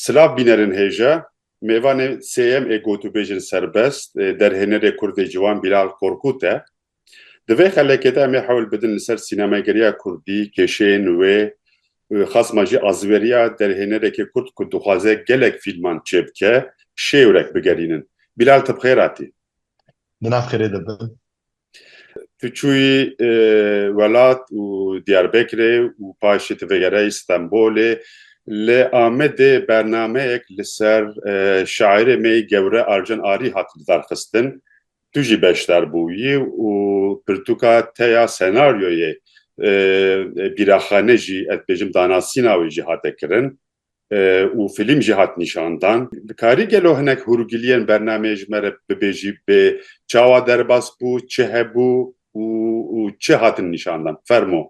Silav bînerin hêja mêvanê sêyem ê gotûbêjên serbest ê derhênerê kurdê ciwan Bîlal Korkût e. Di vê xelekê de em ê hewl bidin li ser sînemageriya kurdî, kêşeyên wê û xasma jî azveriya derhênerekê kurd ku dixwaze gelek fîlman çêbike, şêwrek bigerînin. Bîlal ti bi xêr hatî. di nav xêrê de bin. Tu çûyî welat û Diyarbekirê û paşê tu vegerayî Stenbolê. Li Amedê bernameyek li ser şairê me yê gewre Arjen Arî hat lidarxistin. Tu jî beşdar bûyî û pirtûka te ya senaryoyê Bîraxane jî ez dibêjim danasîna wê jî hate kirin. û fîlm jî hat nîşandan. Dikarî gelo hinek hûrgiliyên bernameyê ji me re bibêjî bê çawa derbas bû, çi hebû û çi hatin nîşandan? Fermo.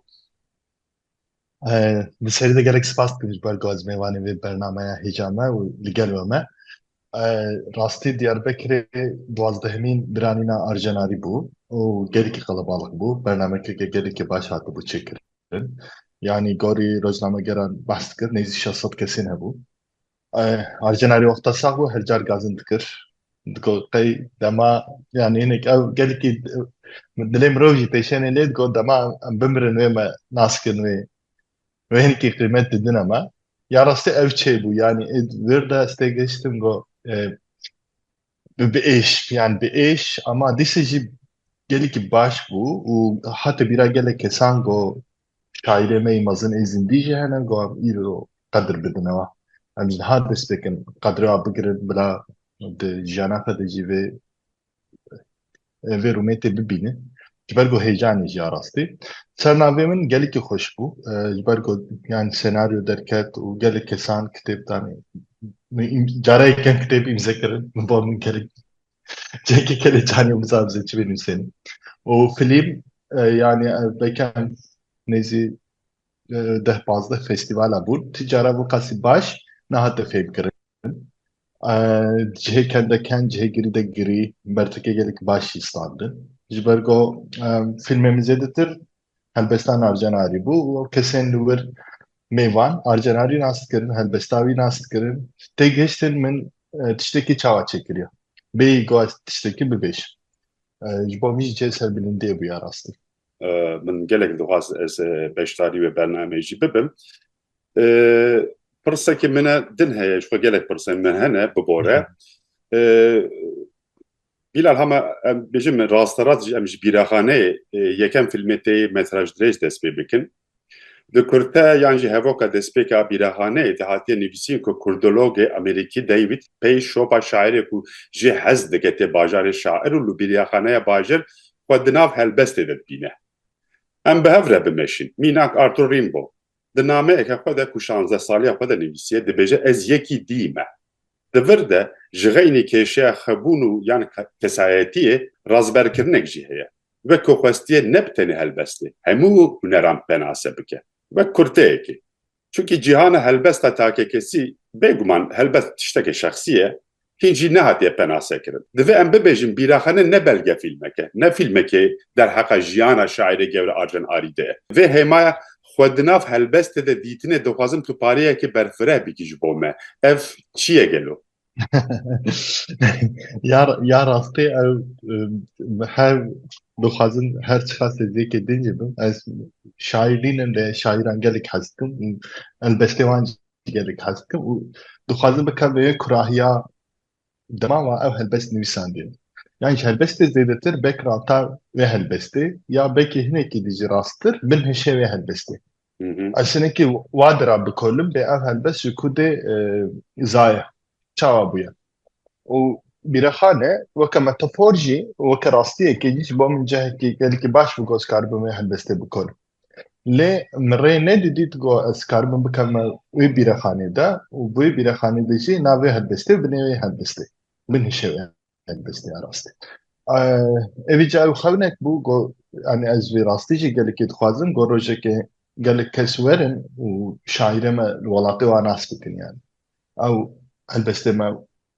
Bi serî de gelek spas dikim ji ber gazmêvanê vê bernameya hêja me û li gel we me. Rastî Diyarbekirê duwazdehemîn biranîna Arjenarî bû û gelekî qelebalix bû. Bernamekirke gelekî baş hatibû çêkirin. kirin. Yanî gorî rojnamegeran behs dikir nêzî şeş sed kesên hebû. Arjenarî wexta sax bû her car gazin dikir. Digot qey dema yanî hinek ew gelekî dilê mirov jî pêşenê lê digot dema em bimirin wê me nas kirin wê wê hinkî qîmet didine me. Ya rastî ew çêbû yanî êd wir de ez tê gihiştim got bi êş yan bi êş ama dîsa jî gelekî baş bû û hate bîra gelek kesan got şaîrê me yî mezin ê zindî jî hene got em îro qedir bidin ew. Em ji niha dest pê kirin qedrê wan bigirin bila di jiyana xwe de jî vê vê rûmêtê bibînin ji ber ku heyecanê jî ya rastî sernavê min gelekî xweş bû ji ber ku yan senaryo derket û gelek kesan kitêb danê cara yekem kitêb îmze kirin min ba min gelek cekê kelê canê biza bize çi bênûsêne û filîm yanî bekem nêzî deh pazdeh festîvala bûn ti cara bû qasî baş nehate fêmkirin Cihê kende ken, cihê girî de girî, bertekê gelek baş jî standin. Ji ber ku fîlmê min zêdetir helbesta navcen arî bû û kesên li wir mêvan arcen arî nas dikirin, helbesta wî nas dikirin. Têgihiştin min tiştekî çawa çêkiriye. Bêyî ku ez tiştekî bibêjim. Ji bo min jî cihê serbilindiyê bûye rastî. Min gelek dixwest ez beşdarî wê bernameyê jî bibim. Pirsekî min e din heye ji xwe gelek pirsên min hene bibore. Bîlal hema em bêjin min rasterast jî em ji bîraxaneyê yekem fîlmê tê metraj dirêj dest pê bikin. Di kurte yan jî hevoka destpêka bîraxaneyê de hatiye nivîsîn ku kurdologê amerîkî David pey şopa şairê ku jê hez dike tê bajarê şair û li bîraxaneya bajir xwe di nav helbestê de dibîne. Em bi hev re bimeşin. Mînak Arthur Rimbaud Di nameyeke xwe de ku şanzdeh saliya xwe de nivîsiye dibêje ez yekî dî me. Di vir de ji xeynî kêşeya xwebûn û yan kesayetiyê razberkirinek jî heye. Wek ku xwestiye ne bi tenê helbestê hemû huneran penase bike. Wek kurteyekê. Çunkî cîhana helbesta takekesî bêguman helbest tiştekê şexsî ye hîn jî nehatiye penasekirin. Divê em bibêjin Bîraxane ne belgefîlmek e, ne fîlmekê derheqa jiyana şaîrê gewre Arjen Arî de ye. Vê hêmaya Xwe di nav helbestê de dîtinê dixwazim tu pareyekê berfireh bikî ji bo me. Ev çi ye gelo? Ya rastî ew her dixwazin her çiqas hêzêkê din jî bim. Ez şaîr nînim lê şaîran gelek hez dikim û helbestê wan gelek hez dikim û dixwazim bikim vê kurahiya dema wa ev helbest nivîsandiye. Yan ji helbestê zêdetir bek rata vê helbestê ya bekê hinekî dî jî rasttir bin hişê vê helbestê. Ez hinekî wa dira bikolim bê ev helbest ji ku dê e, zaye çawa bûye. û bîrexane weke metafor jî weke rastiyekê jî ji bo min cihekî gelekî baş bi goz kar bim vê helbestê bikolim. Lê min rê nedidît ku ez karibim bikevime wê bîrexanê de û bi wê bîrexanê de jî navê helbestê bi nêwê helbestê binişe wê helbestê ya rastî. Evî ca ew xewinek bû ku yanî ez vê rastî jî gelekî dixwazim ku rojekê gelek kes werin û şaîrê me li welatê wan nas bikin yanî. Ew helbestê me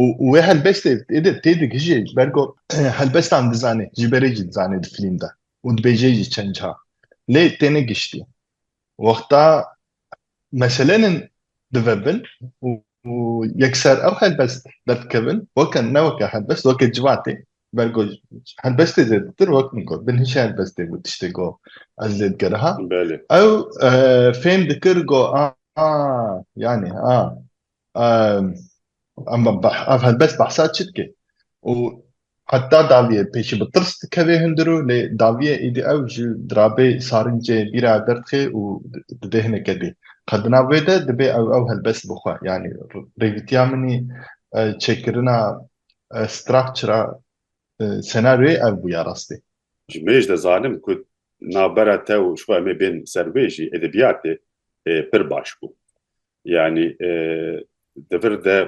û wê helbestê tê digihîjê ber ku helbestan dizanê ji berê jî dizanê di filîm de û dibêjê jî çend cihar lê têne giştî wexta meseleyên dive bin û yekser ew helbest derdikevin weke ne weke helbest weke civatê ber ku helbestê zêdetir wek min got bin hişê helbestê bû tiştê ku ez lê digeriha ew fêm dikir ku a yanî a Em ev helbest behsa çi dike? Û heta daviyê pêşî bi tirs dikevê hundir û lê daviyê êdî ew ji dirabê sarincê bîra derdixe û dibê hineke dê. Qe di nav wê de dibê ew ew helbest bixwe. Yanî rêvîtiya min ê çêkirina structure senaryoyê ev bû ya rastî. Ji mêj de zanim ku navbera te û ji xwe em ê bên ser wê jî edebiyatê pir baş bû. Yanî di vir de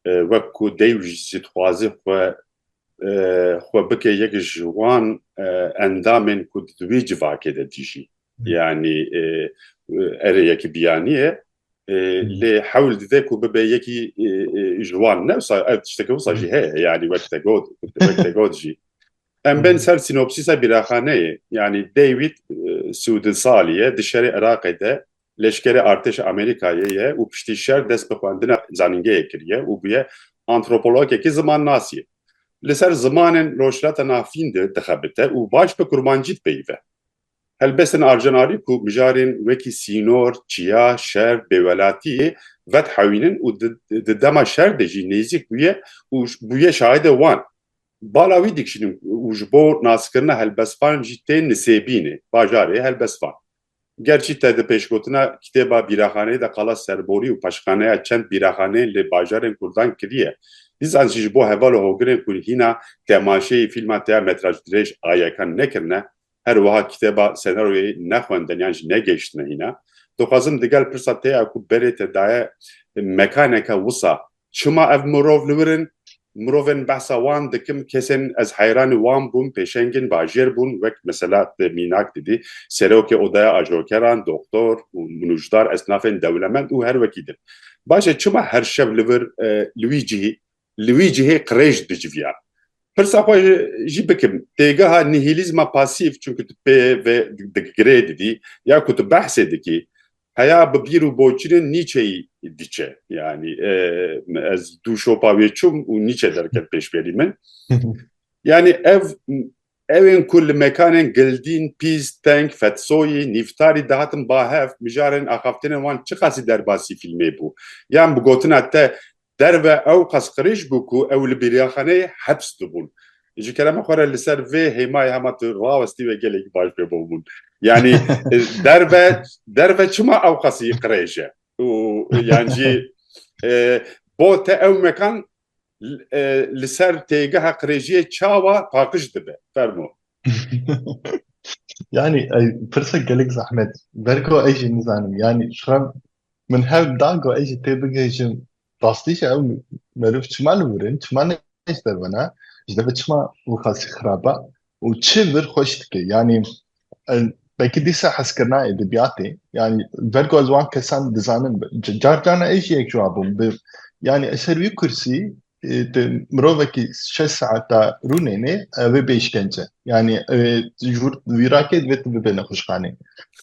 wek ku dey û jî dixwaze xwe xwe bike yek ji wan endamên ku di wî civakê de dijî. Yanî erê yekî biyanî ye lê hewl dide ku bibe yekî ji wan ne wisa ev tişteke wisa jî heye yanî wek te got wek te got jî. Em bên ser sînopsîsa bîraxaneyê yanî David sû di salî ye di şerê Iraqê de Leşkerê Artêşa Amerîkayê ye û piştî şer dest bi xwendina zanîngehê kiriye û bûye antropologekî zimannasî. Li ser zimanên Rojhilata Navîn de dixebite û baş bi kurmancî dipeyive. Helbestên Arjanarî ku mijarên wekî sînor, çiya, şer, bêwelatîyê vedihewînin û di dema şer de jî nêzîk bûye û bûye şahidê wan. Bala wî dikişînin û ji bo naskirina helbestvan jî tên nisêbînê, bajarê helbestvan. Gerçî te di pêşgotina kitêba bîraxaneyê de qala serborî û paşxaneya çend bîraxaneyên li bajarên Kurdan kiriye, dîsan jî ji bo heval û hogirên ku hîna temaşeyî fîlma teya metraj dirêj a yekan nekirine, her wiha kitêba senaryoyê nexwendin yan jî negehiştine hîna. Dixwazim digel pirsa te ya ku berê te daye mekaneke wisa Çima ev mirov li wir in? Mirovên behsa wan dikim kesên ez heyranî wan bûm pêşengên bajêr bûn wek mesela tu mînak didî serokê odaya ajokeran, doktor û nûcdar esnafên dewlemend û her wekî din. Baş e çima her şev li vir li wî cihî li wî cihê qirêj diciviyan? Pirsa xwe jî bikim têgeha nihîlîzma pasîf çunku tu pê ve digirê didî ya ku tu behsê dikî Heya bi bîr û boçîrên Nîçeyî diçe. Yanî ez dû şopa wê çûm û Nîçe derket pêşberî min. Yanî ev Ewên ku li mekanên Gildîn, Pîz, Teng, Fetsoyî, Nîftarî dihatin ba hev, mijarên axaftinên wan çiqasî derbasî fîlmê bû? Yan bi gotina te Derve ew qas qirêj bû ku ew li bêriyaxaneyê heps dibûn. Ji kerema xwe re li ser vê hêmayê hema tu rawestî wê gelekî baş bê bo hûn. Yanî derve derve çima ew qasî qirêj e û yan jî bo te ew mekan li ser têgeha qirêjiyê çawa paqij dibe? Fermo. Yanî pirsa gelek zehmet. Ber ku ez jî nizanim. Yanî xirem Min hev da ku ez jî tê bigihîjim rastî jî ew meriv çima li wir in, çima ne ji derve ne, ji derve çima wexasî xirab e û çi vir xweş dike. Yanî belkî dîsa hezkirina edebiyatê yanî ver ku ez wan kesan dizanim car carna ez jî yek ji wan bûm. Yanî ez ser wî kursî tu mirovekî şeş saeta rûnêne ev ê bê îşkence. Yanî ji wir vîrakê divê tu bibê nexweşxanê.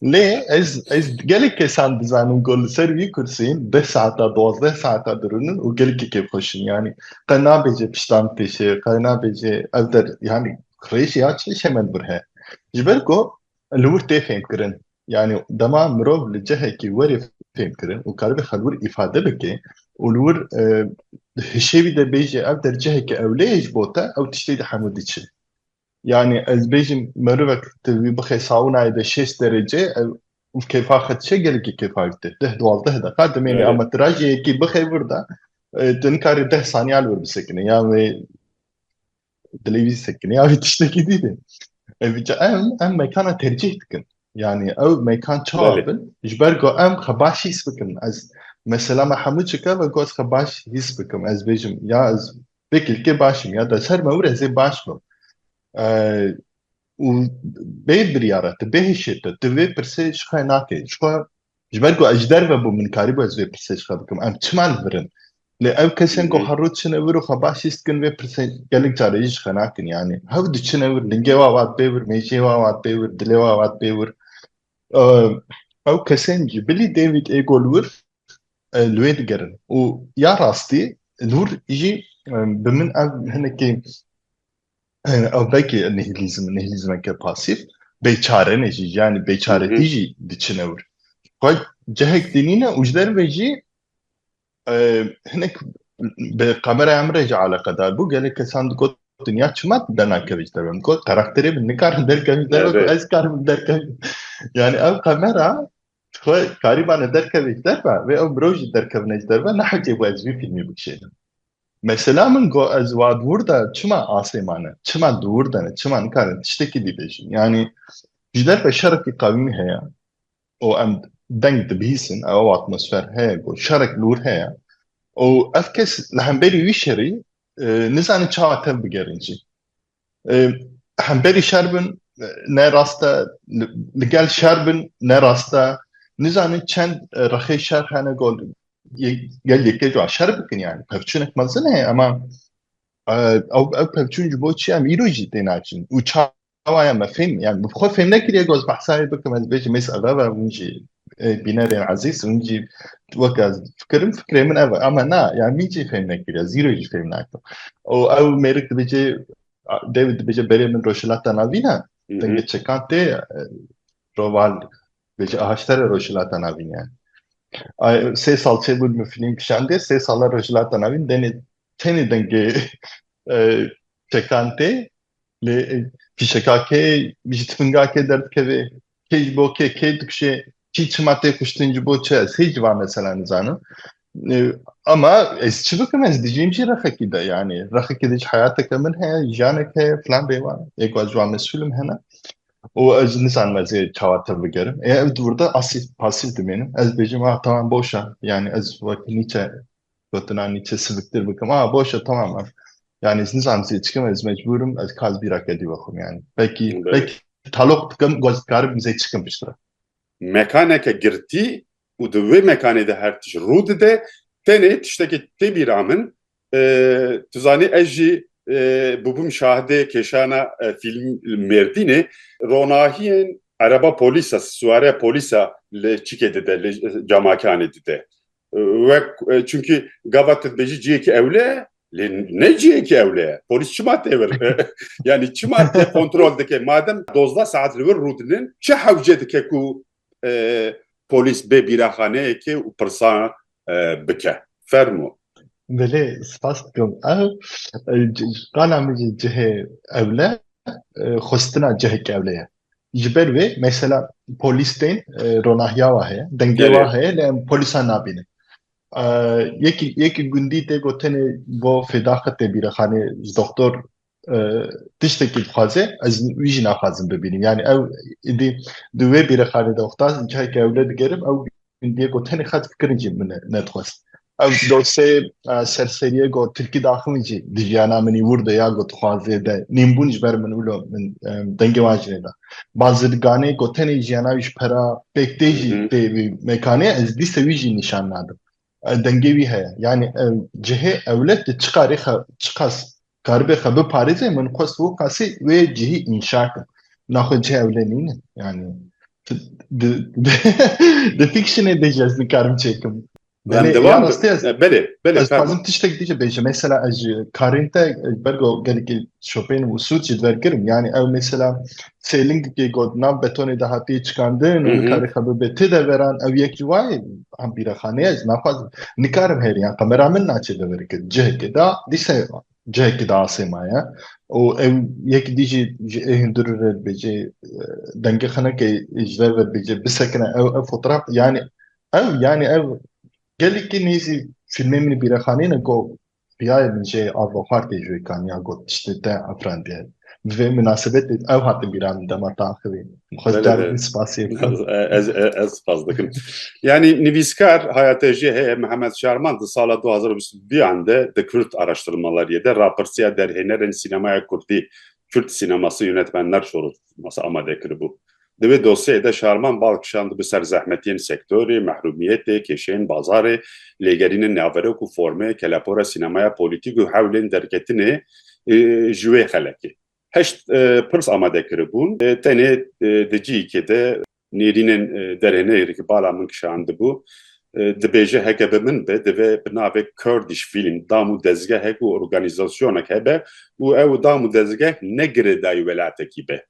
Lê ez ez gelek kesan dizanim ku li ser vî kursîn deh saeta duwazdeh saeta dirûnin û gelekî kêfxweş in. Yanî qe nabêje piştan têşe qe nabêje ev der yanî rêjîya çi hişê me li vir heye. Ji ber ku Li wir tê fêmkirin. Yanî dema mirov li cihekî werê fêmkirin û karibê xwe li wir îfade bike û li wir di hişê wî de bêje ev der ciheke ewleyê ji bo te ew tiştê di hemû diçin. Yanî ez bêjim merivek tu wî bixê saunayê de şêst derece ew û kêfa xwe dişe gelekî kêfa wî tê. Deh duwazdeh deqa demêne ama tu rajê yekî bixê wir de tu nikarî deh saniya li wir bisekine yan wê Dilê wî sekinî ya wî tiştekî dîtin. Ev em em mekana tercîh dikin. Yani ew mekan çawa bin ji ber ku em xwe baş hîs bikin. Ez mesela me hemû çike ve ku ez xwe baş hîs bikim. Ez bêjim ya ez vê kilkê baş im ya ders her me wir ez ê baş bim. û bê biryara te, bê hêşê te, tu vê pirsê ji xwe nakî. Ji xwe, ji ber ku ez ji derve bûm, min karîbû ez vê pirsê ji xwe bikim, em çima li vir in? Lê ew kesên ku her roj çine vir û xwe baş hîs dikin, vê pirsê gelek carê jî ji xwe nakin. Yanî hev diçine vir, lingê wan wan dibê vir, mêjiyê wan wan dibê vir, dilê wan wan dibê vir. Ew kesên ji bilî David Ego li wir, li wê digerin. Û ya rastî, li wir jî bi min ev hinekî Ew belkî nihîlîzm nihîlîzmeke pasîf bêçare ne jî yanî bêçaretî jî diçine wir. Xwe cihek dînîne û ji derve jî e, hinek bi qamera em re jî eleqedar bû gelek kesan digot dinya çima denakeve ji derve min got karakterê min nikarin derkeve ji derve Evet. ez karim derkeve yani ev qamera xwe karîbane derkeve ji derve ve ew mirov jî derkevine ji derve nehecê bu ez vî filmî bikişênim. Mesela min got ez wa dûr de çima asê mane, çima dûr de ne, çima nikarin tiştekî dî bêjin. Yanî ji derve şerekî qewî heye û em deng dibihîsin, ew atmosfer heye ku şerek dûr heye û ev kes li hemberî wî şerî nizane çawa tev bigerin jî. Hemberî şer bin ne rast e, li gel şer bin ne rast e. Nizanin çend rexê şer hene gol gel yekê cû şer bikin yani. Pevçûnek mezin heye ama ew ew pevçûn ji bo çi em îro jî tê naçin. Û çawa ya me fêm yani bi xwe fêm nekiriye goz behsayê bikim ez bêjim mês ev ev hûn jî Bînerên ezîz min jî weke ez difikirim fikirê min ev e ama na yani min jî fêm nekiriye zîro jî fêm nakim û ew mêrik dibêje dêwî dibêje berê min rojhilata navîn e dengê çekan tê roval dibêje ahaştere rojhilata navîn e sê sal çêbûn min filîm kişandê sê sala rojhilata navîn denê tenê dengê çekan tê Lê fîşeka kê ji tifinga kê derdikeve, kê ji bo kê kê dikuşê, kî çima tê kuştin ji bo çi ez hê ji van mesela nizanim. Ama ez çi bikim ez dijîm jî rexekî de yani rexekî de ji heyateke min heye jiyanek heye filan bêwan ê ku ez ji wan mesûlim hene û ez nizanim ez ê çawa te bigerim ê ev dûrda asîf pasîf dimênim ez bêjim a tamam boşa yani ez wek nîçe gotin anî çi siviktir bikim. A boş e tamam e. Yani ez nizam zê çikim ez mecburim ez kaz bîra kedî wexim yani. Belkî belkî talok dikim goz dikarim zê çikim piştre. Mekaneke girtî û di wê mekanê de her tişt rû dide tenê tiştekê tê bîra min tu zanî ez jî bûbûm şahidê kêşana fîlm Mêrdînê ronahiyên ereba polîsa siwareya polîsa li çikê dide li camakanê dide. Wek çünkü gava tu dibêjî ciyekî ewle ye lê ne ciyekî ewle ye. Polîs çima tê vir? yani çima tê kontrol dike? Madem dozda saet li wir rûdinin çi hewce dike ku polîs bê bîraxaneyekê û pirsa bike? Fermo. Belê spas dikim. Ev qala min jî cihê ewle xwestina cihekî ewle ye. Ji ber vê mesela polîs tên ronahiya wa heye, dengê wa heye lê em polîsan nabînin. Yekî yekî gundî tê got tenê bo fêda xwe tê bîrexanê ji doktor tiştekî dixwaze ez wî jî naxwazim bibînim. Yanî ew êdî di wê bîrexanê de wexta cihekê ewle digerim ew Min diyê got tenê xet fikirin jî min nedixwest. Ew dosyeyê serseriyê got tirkî daxin min jî di jiyana min wûr de ya ku dixwazê de nîm bûn ji ber min wilo min dengê wan jî nêda. Bazirganê got tenê jiyana wî ji pera pêk tê jî tê wî mekanê ez dîsa wî jî nîşan nadim. Dengê wî heye. Yanî cihê ewlet di çiqarê çiqas Karibê xwe biparêzê min xwest wê qasî wê cihî înşa kim. Na xwe cih ewle nîne. Yani di fikşinê de ji ez nikarim çêkim. Belê, ya rastî ez. Belê, belê. Ez dixwazim tiştek dî jî bêjim. Mesela ez ji karên te bergo gelekî şopeyên û sûd jî dibergirim. Yani ew mesela sêlingikê got nav betonê de hatiye çikandin û nikarê xwe bibe ti deveran ew yek ji wayê bîrexaneyê ez naxwazim nikarim hêriyan qemera min naçe deverike cihekê de dîsa cihekê de asê maye û ew yek dî jî ji ê hundir re dibêje dengê xeneke ji ver ve dibêje bisekine ew ev fotoğraf yanî ew yanî ev gelekî nêzî fîlmê min bîrexaneyê ne ku Piyayê min jê ava xwar tê ji wê kaniya got tiştê te afirandiye. Bi vê minasebetê ew hate bîra min dema te axivî. Dixwest carek din spasiyê bikim. Ez spas dikim. Yanî nivîskar haya te jê heye Mihemed Şarman di sala du hezar û bîst û duyan de di Kurd Araştırmalariyê de rapirsiya derhênerên sînemaya Kurdî, Kürt Sineması Yönetmenler Şurulu, masa amade kiribû. Di wê dosyeyê de şarman bal kişandibe ser zehmetiyên sektorê, mehrûmiyetê, kêşeyên bazarê, lêgerînên naverok û formê, kelepora sînemaya polîtîk û hewlên derketinê ji wê xelekê. Heşt pirs amade kiribûn, tenê di cihekê de, Nêrînên derê nehêrê ki bala min kişandibû, dibêje heke bi min be divê bi navê Kurdish Film dam û dezgehek û organîzasyonek hebe û ew dam û dezgeh ne girêdayî welatekî be.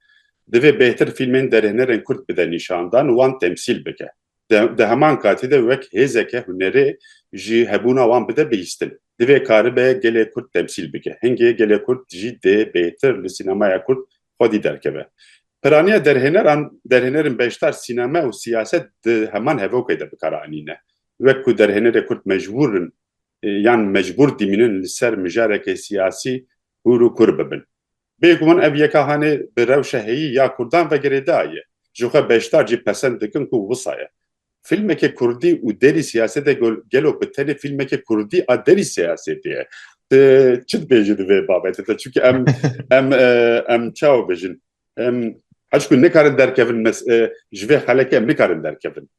Divê bêhtir fîlmên derêhnerên kurd bide nîşandan û wan temsîl bike. Di heman katî de wek hêzeke hunerê jî hebûna wan bide bihîstin. Divê karibe gelê kurd temsîl bike. Hingê gelê kurd jî dê bêhtir li sînemaya kurd xwedî derkeve. Piraniya derhêneran, derhênerên beşdar sîneme û siyaset di heman hevokê de bi kar anîne. Wek ku derhênerê kurd mecbûr in yan mecbûr dimînin li ser mijarekê siyasî hûr û kur bibin. Bêguman ev yeka hanê bi rewşa heyî ya kurdan ve girêdayî ye. Jixwe beşdar jî pesend dikin ku wisa ye. Fîlmeke kurdî û derî siyasete gelo bi tenê fîlmeke kurdî a derî siyasetê ye? Tu çi dibêjî di vê babetê de? Çunke em em em çawa bêjin? Em hişkû nikarin derkevin ji vê xelekê em nikarin derkevin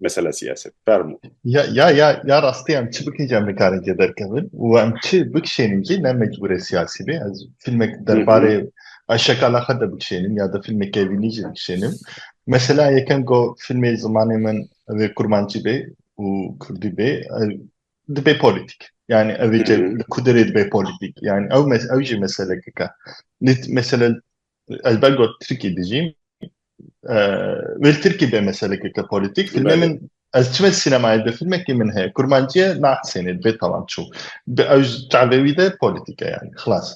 mesela siyaset. Fermo. Ya ya ya ya rastî em çi bikin jî em nikarin jê derkevin û em çi bikişênin jî ne mecbûrê siyasî bê. Ez fîlmek derbarê Ayşe Kalaxa de bikişênim ya de fîlmeke evînî jî bikişênim. Mesela yekem ku fîlmê zimanê min evê kurmancî bê û kurdî bê dibê polîtîk. Yani evê ce li kudirê dibê polîtîk. Yani ew ew jî meselekeke. Lê mesela ez ber got Tirkî dijîm wê li Tirkî bê meselekeke polîtîk. Fîlmê min ez çime sînemayê de fîlmekî min heye kurmancî ye naxisênê dibê tamam çû. Ew ji çavê wî de polîtîk e yani xilas.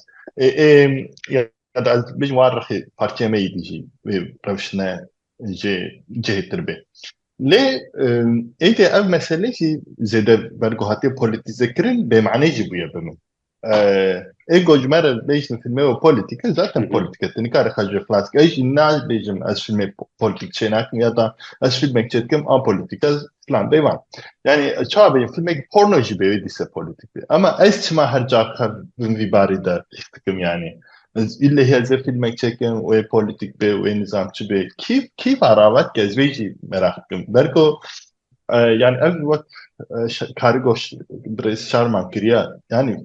Heta ez bijî wan rixî partiya me yî dijî wê rewşine jê cihê tir bê. Lê êdî ev mesele jî zêde bergo hatiye polîtîzekirin bêmanî jî bûye bi min. Ê ku ji me re bêjin fîlmê wê polîtîk e zaten polîtîk e tu nikare xwe jê xilas bikî. Ez jî nabêjim ez fîlmê polîtîk çênakim ya da ez fîlmek çêdikim a polîtîk e Plan beyvan. Yani çawa beyê filmek porno jî beyê dîse politik bê. Ama ez çima her ca xev bin vî barî de hîs dikim yani. Ez îllehî ez ê filmek çekim wê politik bê wê nizamçi bê. Kî kî va ravat ki ez vê jî meraq dikim. Berko yani ev wek karî goş birêz şarman kiriye. Yani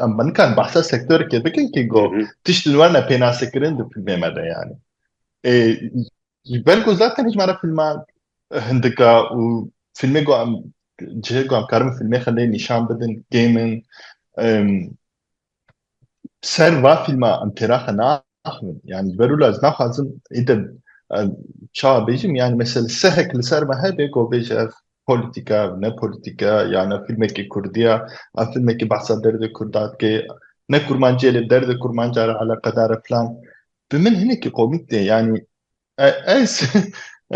em nikan behsa sektoreke bikin ki go tişt li wer ne pênasekirin di filmê me de yani. Ji ber ku zaten hêj me re fîlma hindika û fîlmê ku em cihê ku em karin fîlmê xelê nîşan bidin kêmin ser va fîlma em têra xwe naxivin yanî ji ber wilo ez naxwazim îde çawa bêjim yanî mesela sehek li ser me hebe ku bêje ev polîtîka ev ne polîtîka yan ev fîlmekî kurdî ya ev fîlmekî behsa derdê kurda dike ne kurmanciyê lê derdê kurmanca re eleqedar e filan Bi min hinekî komîk tê yanî ez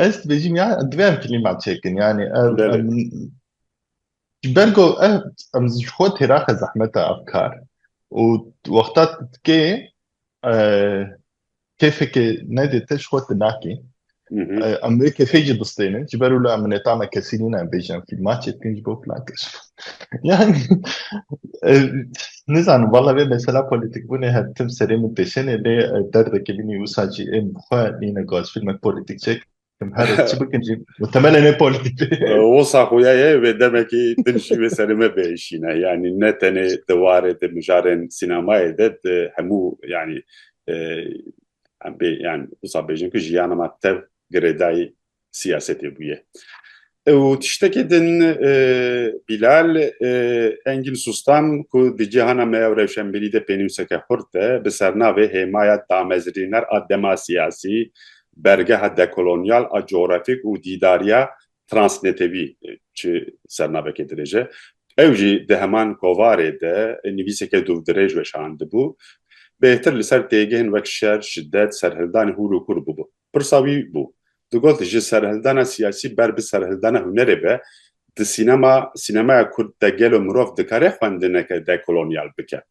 ez dibêjim ya divê em filîma çêkin yanî ji ber ku em ji xwe têraxe zehmeta ev kar û wexta tu dikê kêfekê nedê te ji xwe tu nakî Em vê kesê jî bistênin ji ber wila min nêta me kesî nîne em bêjin fîlma çêdikin ji bo plan kir. Yani nizanim valla vê mesela polîtîkbûnê her tim serê min têşenê lê derdekê min ê wisa jî ên bi xwe nîne gaz fîlmek polîtîk çek her çi bikin jî mutemelen ê polîtîk Wisa xuya ye vê demekî din jî vê serê me bêşîne yanî ne tenê di warê di mijarên sînemayê de di hemû yanî Em bê yan wisa bêjin ku jiyana me tev girêdayî siyasetê bûye. Ew tiştekê din Bîlal Engîn Sustan ku di cîhana me ew rewşenbîrî de pênûseke xurt e bi sernavê hêmaya damezrîner a dema siyasî, bergeha dekolonyal a coğrafîk û dîdariya Transnetewî çi sernavekê dirêj e. Ew jî di heman kovarê de nivîseke dûvdirêj weşandibû. Bêhtir li ser têgihên wek şer, şidet, serhildane hûr û kûr bûbû. Pirsa wî bû. Digot ji serhildana siyasî ber bi serhildana hunerê be, di sînema, sînemaya kurd de gelo mirov dikare xwendineke dekolonyal bike?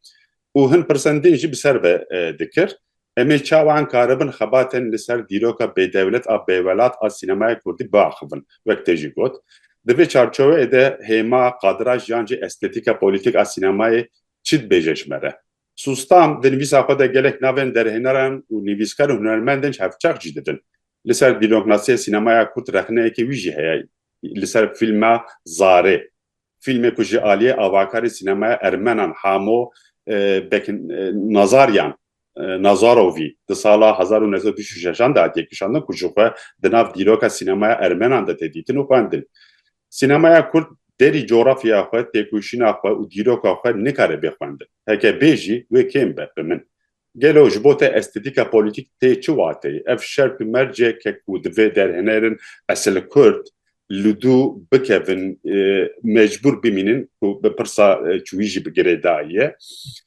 û hin pirsan din jî bi ser ve dikir, Em ê çawa ankaribin xebatên li ser dîroka bêdewlet a bêwelat a sînemaya kurdî biaxivin? wek tê jî got, Di vê çarçoveyê de hêma, qadira jiyan jî estetîka polîtîk a sînemayê çi dibêje ji me re? Sustam di nivîsa xwe de gelek navên derhêneran û nivîskar û hunermend din çavçax jî didin. Li ser dîroknasîya sînemaya kurd rexneyekê wî jî heye li ser fîlma Zarê. Fîlmê ku ji aliyê avakarê sînemaya ermenan Hamo Beknazaryan, Nazarovî, di sala hezar û neh sed û bîst û şeş an de hatiye kişandin ku ji xwe di nav dîroka sînemaya ermenan de tê dîtin û xwendin. Sînemaya kurd derî cografyaya xwe, têkoşîna xwe û dîroka xwe nikare bê xwendin. Heke bê jî wê kêm be, bi min. Gelo ji bo te estêtîka polîtîk tê çi wateyê? Ev şert û merceke ku divê derhênerin esil Kurd li dû bikevin mecbûr bimînin ku bi pirsa çûyî jî bi girêdayî ye.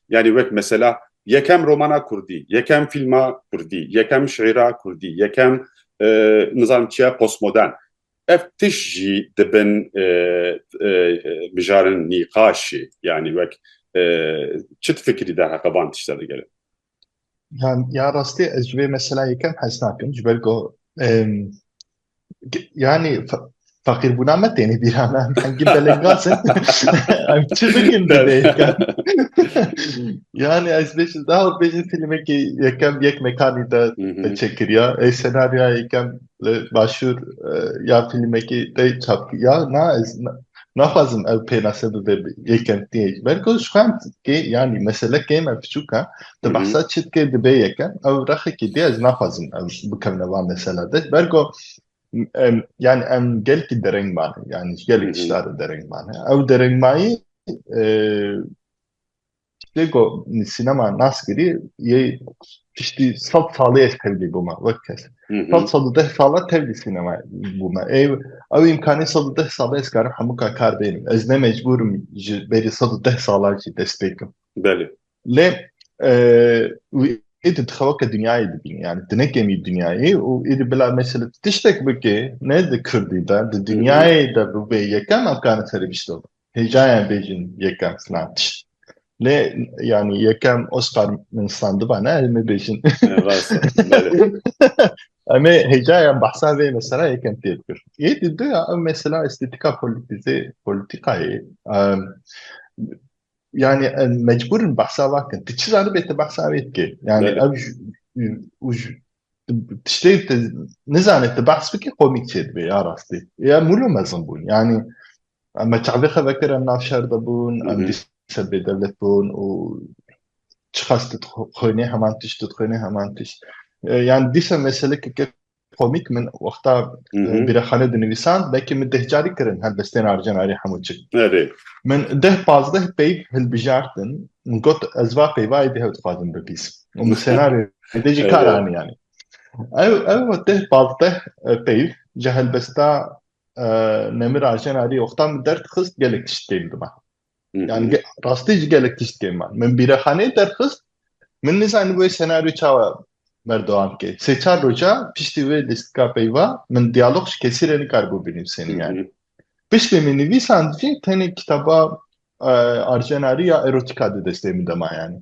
Yanî wek mesela yekem romana kurdî, yekem fîlma kurdî, yekem şîîra kurdî, yekem nizanim çi ye postmodern. Ev tişt jî dibin mijarên nîqaşê yanî wek çi difikirî derheqê van tişta digere? Ya rastî ez ji vê meseleyê yekem hez nakim ji ber ku yanî feqîrbûna me têne bîra me em hingî belengaz in em çi bikin bi vê yekem yanî ez bêjim daha bêjim filmekî yekem yek mekanî de çêkiriya ê senaryoya yekem li başûr ya fîlmekî tê çap ya na ez naxwazim ev pênase bibe yê kentiyek belko ji xwe kê yanî mesele kê me piçûk e di behsa çi dikê dibê yeke ew rexekî dê ez naxwazim ew bikevne van mesela de belko yani em gelkî dereng mane yani gelek tiştare dereng mane ew derengmayî Tiştê ku sînema nas kirî yê tiştî sed salê ez tevlî bûma wek kes. Sed sed û deh sala tevlî sînema bûma. Ê ew îmkanê sed û deh sala ez karim hemû ka kar bênim. Ez ne mecbûr im ji berî sed û deh sala jî dest pê kim. Belê. Lê wî êdî dixeweke dinyayê dibînî yanî tu nekemî dinyayê û êdî bila mesela tu tiştek bikê ne di kurdî de di dinyayê de bûbê yekem emkanê serê biştebû. Hêjayan bêjin yekem sinan tişt. Lê yanî yekem Oscar min sitandiba ne em ê bêjin. Em ê hêjayan behsa vê mesela yekem tê bikir. Yê di du ya ew mesela estêtika polîtîze polîtîkayê yani mecburin bahsa vakin. Ti çi zanibê te bahsa wê dikê. Yani ev tiştê te nizanê te bahs bikê komîk çê dibê ya rastî. Ya mûlo mezin bûn. Yani Em me çavê xwe vekir em nav şer de bûn, em dî ser bêdewlet bûn û çiqas tu dixwînî heman tişt, tu dixwînî heman tişt. Yan dîsa meselekeke komîk min wexta bîrexane dinivîsan, belkî min deh carî kirin helbestên arjenarî hemû çi. Min deh pazdeh peyv hilbijartin, min got ez va peyvayê dih ew dixwazim bibîsim û min senaryo dê jî kar anî yanî. Ew ew deh pazdeh peyv ji helbesta Nemir Aşen Arî oxtan min derxist gelek tişt tê li me. Yani rastî jî gelek tişt tê me. Min bîrexaneyê derxist min nizanî wê senaryo çawa berdewam ke. Sê çar roja piştî wê lîstika peyva min diyalog ji kesî re nikaribû binivîsînim yani. Piştî min nivîsand jî tenê kitaba Arjen Arî ya erotîka di destê min de ma yani.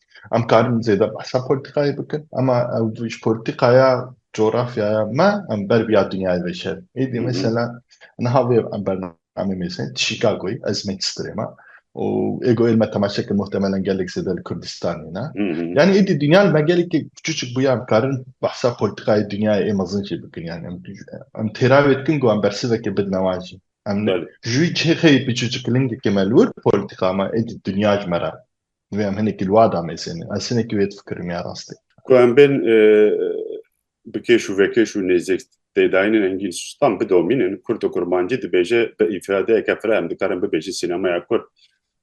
Em karin zêde behsa polîtîkayê bikin ema ew ji polîtîkaya coğrafyaya me em ber vîya dinyayê veşerin. Êdî mesela niha vê em bernameyê mêzê di Chicagoyê ez Manchesterê me û ê goyê li me temaşe kir muhtemelen gelek zêde li Kurdistanê ne. Yanî êdî dinya li me gelekî çûçik bûye em karin behsa polîtîkayê dinyayê ê mezin jî bikin yanî em em têravê dikin ku em bersivekê bidin wan jî. Em ji wî cihê xeyê biçûçik lingekê me li wir polîtîka me êdî dinya ji me re Divê em hinekî li wada mêsêne. Ez hinekî wê difikirim ya rastê. Ku em bên bikêş û vekêş û nêzêk têdayînin engîn stan bidomînin. Kurd û kurmancî dibêje bi îfradeyeke fira em dikarin bibêjin sînemaya kurd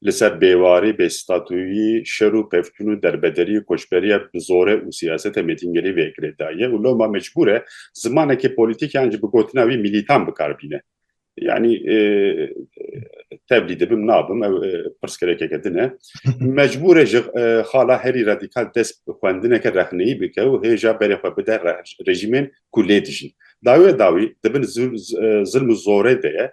li ser bêwarî, bêstatuyî, şer û pevçûn û derbederî û koçberiya bi zorê û siyaseta mêtingêlî vê girê da ye û loma mecbûr e zimanekî polîtîk yan jî bi gotina wî mîlîtan bikar bîne. یعنی tevlî dibim nabim ew pirsgirêkeke din e mecbûr e ji xala herî radîkal dest bi xwendineke rexneyî bike û hêja berê xwe bide rejîmên ku lê dijîn. Dawê dawî di bin zilm û zorê de ye,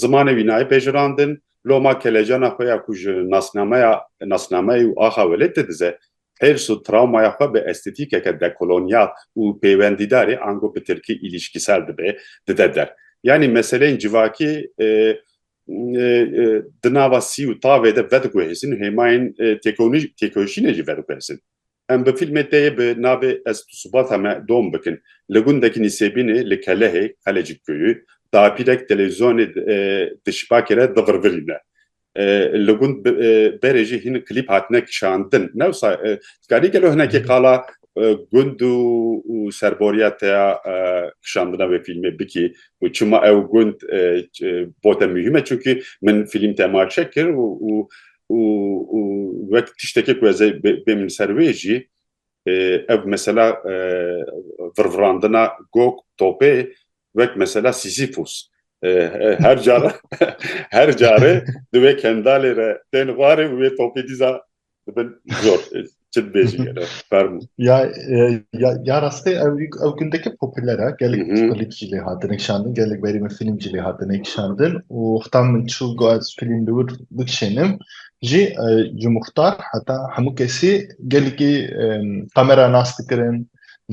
zimanê wî nayê pejirandin, loma kelecana xwe ya ku ji nasnameya nasnameyê û axa welêt de dize Hêrs û trawmaya xwe bi estetîkeke dekolonyal û pêwendîdarê ango bi tirkî îlîşkîsel dibe, dide der. Yanî meseleyên civakî di nava sî û tavê de vediguhêzin û hêmayên têkoşînê jî vediguhêzin. Em bi fîlmê te yê bi navê Ez tu subata me dom bikin. Li gundekî Nîsêbînê li Kelehê, Kalecik Köyü, dapîrek telewîzyonê di şibakê re divirvirîne. Li gund berê jî hîn klîp hatine kişandin. Newsa dikarî gelo hinekî qala gund û serboriya te ya kişandina wê fîlmê bikî û çima ew gund bo te muhîm e çunkî min fîlm temaşe kir û û wek tiştekê ku ez ê bê min ser wê jî Ev mesela virvirandina Gog Topê wek mesela Sîsîfûs her cara her care di wê kendalê re tên xwarê û wê topê dîza dibin zor çi dibêjî gelo fermû. Ya ya ya rastî ew ew gundeke popüler e gelek klîp jî lê hatine kişandin gelek berî min fîlm jî lê hatine kişandin û heta min çû got fîlm li wir bikişênim Jî ji muxtar heta hemû kesî gelekî qemera nas dikirin,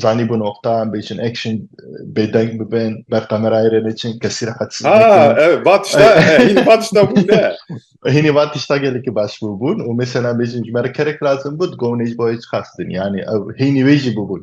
zanîbû noqta em bêçin action bêdeng bibin, ber qemerayê re neçin, kesî re qet siz nekin. Va tişta hînî va tişta bû ne. Hînî va tişta gelekî baş bûbûn û mêsena bêjin ji me re kerek lazim bû, digotinê ji bo hêç qas din. Yanî ew hînî wê jî bûbûn.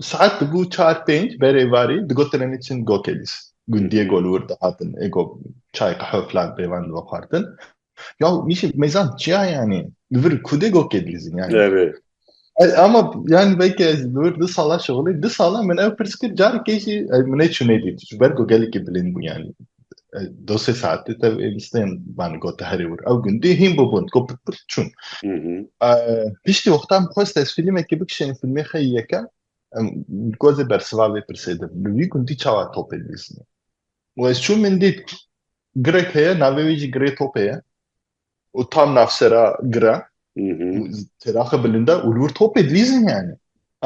Saet dibû çar pênc berê varî digotin em ê çin Gokelîs. Gundiyê Golwir dihatin ê go çay qehewe filan pê van dixwardin. Ya nîşî mêzan çiya yanî li vir kudê Gokelîsîn yanî. Ama yani belki ez nur du sala şoxlê du sala min ew pirs kir carekê jî min ê çûnê dît ji ber ku gelekî bilind bû yanî. دو سێ ساعتê tev ê listeyên banî got te herê wir ew gundî hîn bûbûn got pit pit çûn piştî wexta min xwest ez fîlmekê bikişînim fîlmê xeyî yekem got zê bersiva vê pirsê de li wî gundî çawa topê dilîzîne û ez çûm min dît girek heye navê wî jî girê topê ye û tam navsera gira têraxe bilinda û li wir topê dilîzîn yani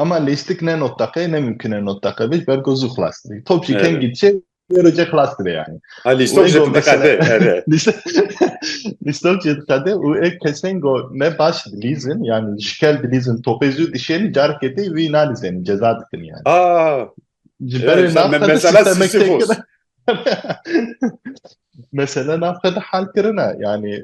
ama lêstik ne notdaqe ne mimkine notdaqe vê ber got zû xilas dibî top jî kengî diçe Proje xlas dibe yani. Ha lîstok jî diqede. Lîstok jî diqede û ê kesên go ne baş dilîzin yani ji kel dilîzin topê zû dişênî carekê tê wî nalîzênî ceza dikin yani. Ji berê mesela Sisyphos. Mesela navxwe de hal kirine yani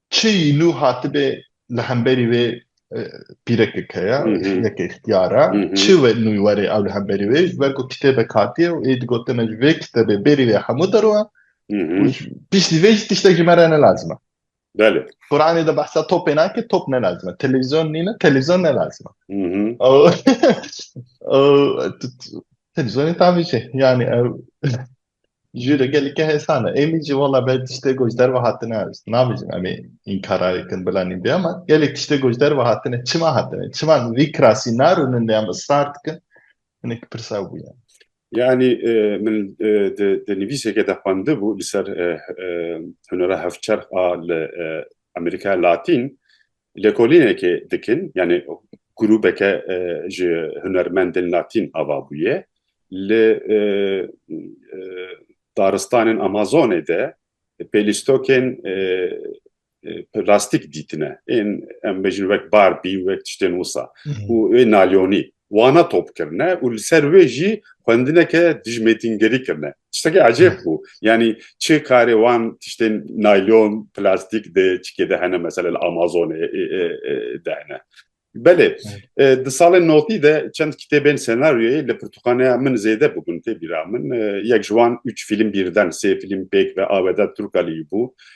Çi îlû hatibê li hemberî wê pîrekek heye, yeke îxtiyar e. Çi wê nû were ew li hemberî wê ji ber ku kitêbek hatiye û ê digotin me ji vê kitêbê bêrî vê hemû derûe û piştî vê jî tiştek ji me re ne lazim e. Belê. Quranê de behsa topê nake, top ne lazim e. Televîzyon nîne, televîzyon ne lazim e. Televîzyonê tavê çi? Yanî ew Jure gelike hesana. Êmî jî wala belê tiştê ku ji derve hatine ew nabêjin em ê înkara bikin bila nîn bê ama gelek tiştê ku ji derve hatine çima hatine çima li vî kirasî narûnin lê em israr dikin hinek pirsa ew bûye. Yanî min di nivîseke de xwendibû li ser hunera hevçerx a li Amerîkaya Latîn Lêkolînekê dikin yanî grûbeke ji hunermendên Latîn ava bûye li daristanên Amazonê de pêlîstokên plastîk dîtine ên em bêjin wek Barbie û wek tiştên wisa û wê nalyonî wana top kirine û li ser wê jî xwendineke dijmêtîngerî kirine. Tiştekî ecêb bû. Yanî çi karê wan tiştên naylon, plastîk di çikê de hene mesela li Amazonê de hene. Belê di salên notî de çend kitêbên senaryoyê li pirtûkxaneya min zêde bûbûn tê bîra min. Yek ji wan ûç fîlm bîrden, sê fîlm pêk ve Aweda Turkaliyî bû.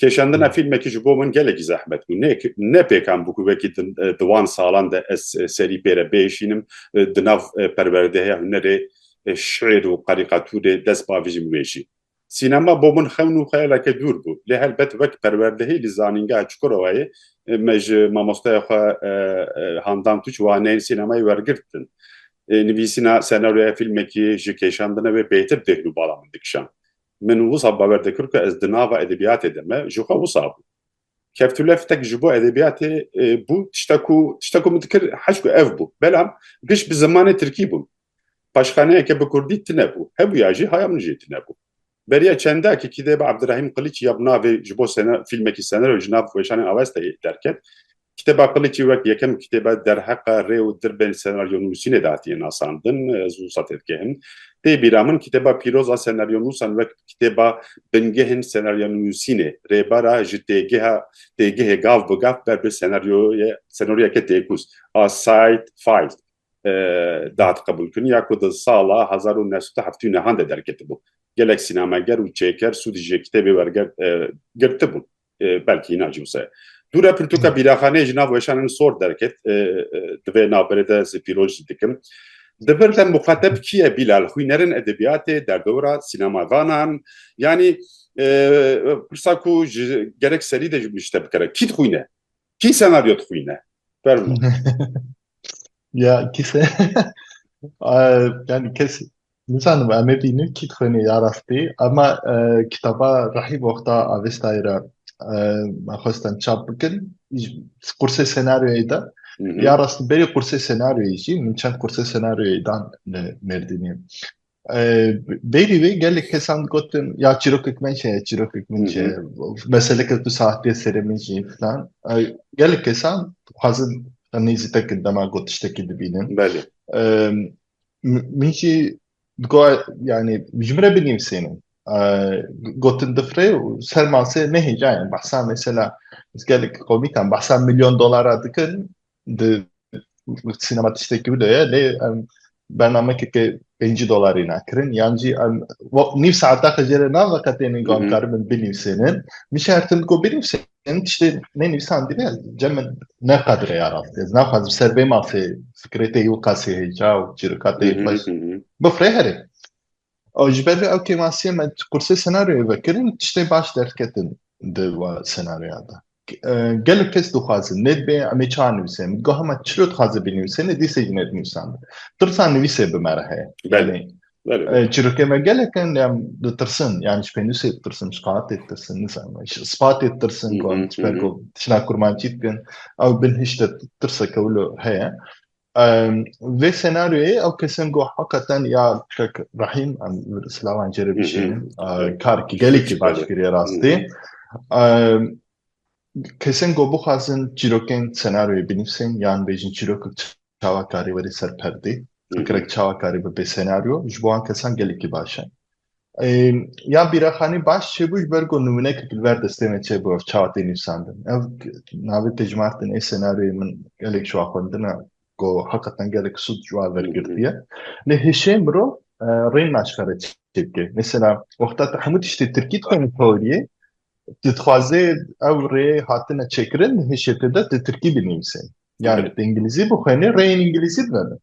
Kêşandina fîlmekî ji bo min gelekî zehmet bû. Ne ne pêkan bû ku wekî di wan salan de ez serî pê re bihişînim. Di nav perwerdehiya hunerê şîr û karîkatûrê dest bavijîm wê jî. Sînema bo min xewn û xeyaleke dûr bû. Lê helbet wek perwerdehî li Zanîngeha Çukurowayê me ji mamosteya xwe Handan Tûç waneyên sînemayê wergirtin. Nivîsîna senaryoya fîlmekî ji kêşandina wê bêtir dêhn û bala min dikişand. Min wisa bawer dikir ku ez di nava edebiyatê de me, ji xwe wisa bû. Keftûleftek ji bo edebiyatê bû tişta ku tişta ku min dikir heşt ku ev bû. Belam giş bi zimanê tirkî bûn. Paşxaneyeke bi kurdî tine bû. Hebûya jî haya min jî tine bû. Beriya çendakî kîdeba Abdirahîm Qiliç ya bi navê ji bo fîlmekî senero ji nav weşanên awesteyê derket. Kitêba Qiliçî wek yekem kitêbe derheqe rê û dirbên senaryonûsînê de hatiye nasandin, ez wisa têdikehim. Tê bîra min kitêba pîroz a senaryonûsan wek kitêba bingehên senaryanûsînê, rêbara ji têgeha têgehê gav bi gav ber bi senaryoye senaryoyeke têkûz a Side Fight de hat qebûlkirin ya ku di sala hezar û neh sed û heftê û nehan de derketibû. Gelek sînameger û çêker sûd jê kitêbê werger girtibûn. Belkî îna jî wisa ye. Dû re pirtûka bîraxaneyê ji nav weşan in sor derket. Di vê navberê de ez pîroz jî dikim. Di vir de muxateb kî ye Bîlal? Xwîner in edebiyatê, derdora, sînemadanan? Yanî pirsa ku ji gerek serî de ji te bikere. Kî dixwîne? Kî senaryo dixwîne? Fermo. Ya kî se yani kes Nizanim em ê bînin kî dixwêne ya rastî ema kitaba Rahîm Oxda Avestayê re me xwest em çap bikin qursê senaryoyê de ya rastî berî qursê senaryoyê jî min çend qursê senaryoyê dan li Mêrdînê. Bêrî wê gelek kesan digotin ya çîrokek me heye çîrokek min heye meseleke tu saxtê serê min jî filan gelek kesan dixwazin nêzî te kin dema got tiştekî dibînin. Min jî digo yanî ji min re binivîsînin. Gotin difirê û ser masê ne hêja ye. Behsa mesela ez gelek qewmîkan behsa milyon dolara dikin di sînema tiştekî wilo ye lê em bernamekeke pêncî dolarî ne kirin yan jî em nîv saeta xwe jê re naveqetênin ku em karibin binivîsînin. Min şertin ku binivîsînin. em tiştê ne nivîsandî ne cem min ne qadire ya rastî ez naxwazim ser vê mafê fikrê te yî û qasê hêja û çîrika te yî xweş bifirê herê ew ji ber vê ew kêmasiyê me qursê senaryoyê vekirin tiştê baş derketin di wa senaryoya de gelek kes dixwazin nê dibê emê çar nivîsê min digoha me çilo dixwaze bî nivîsê nê dîsê jî nê dinivîsandin tirsa nivîsê bi me re heye belê Çîrokên me gelek in em ditirsin yanî ji pênûsê ditirsin ji qaetê ditirsin nizanim ji spatê ditirsin ku em ji ber ku tişna kurmancî dikin ew bin hişte tirsek ew li heye vê senaryoyê ew kesên ku heqeten ya kek rehîm em silavan jê re bişînin karekî gelekî baş kiriye rastî kesên ku bixwazin çîrokên senaryoyê binivîsin yan bêjin çîrokek çawakarî werî ser perdê, fikrek çawakarî bibe senaryo ji bo wan kesan gelekî baş e. Yan Bîraxanî baş çêbû ji ber ku nimûneke li ber destê me çêbû ev çawa tê nivîsandin. Ev navê tê ji Martin ê senaryoyê min gelek ji wan xwendina ku heqetan gelek sûd ji wan wergirtiye. Lê hişê mirov rê naşkare çê bike. Mesela wexta tu hemû tiştê tirkî dixwînî teoriyê Tu dixwazê ew rê hatine çêkirin hişêtê de di tirkî binivîsê. Yani di îngilîzî bixwênê rêyên îngilîzî bibin.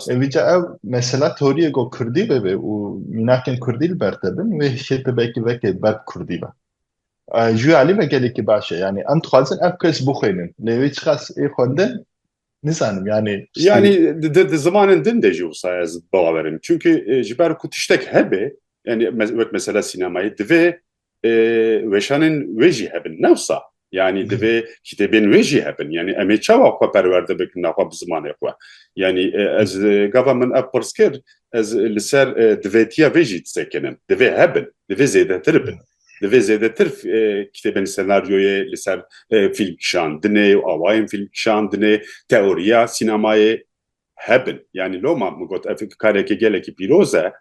Evîca ew mesela teoriyê go kurdî bibê û mînakên kurdî li ber te bin wê hişêtê belkî vekê berb kurdî be. Ji wê alî me gelekî baş e. Yani em dixwazin ev kes bixwênin. Lê wê çiqas ê xwendin nizanim yani. Yani di zimanên din de jî wisa ez bawerim. Çunki ji ber ku tiştek hebe yani wek mesela sînemayê divê weşanên wê jî hebin ne wisa yanî divê kitêbên wê jî hebin yanî em ê çawa xwe perwerde bikin naxwe bi zimanê xwe yanî ez gava min ev pirs kir ez li ser divêtiya vê jî disekinim divê hebin divê zêdetir bin divê zêdetir kitêbên senaryoyê li ser fîlm kişandinê û awayên fîlm kişandinê teoriya sînemayê hebin yanî loma min got ev karekê gelekî pîroz e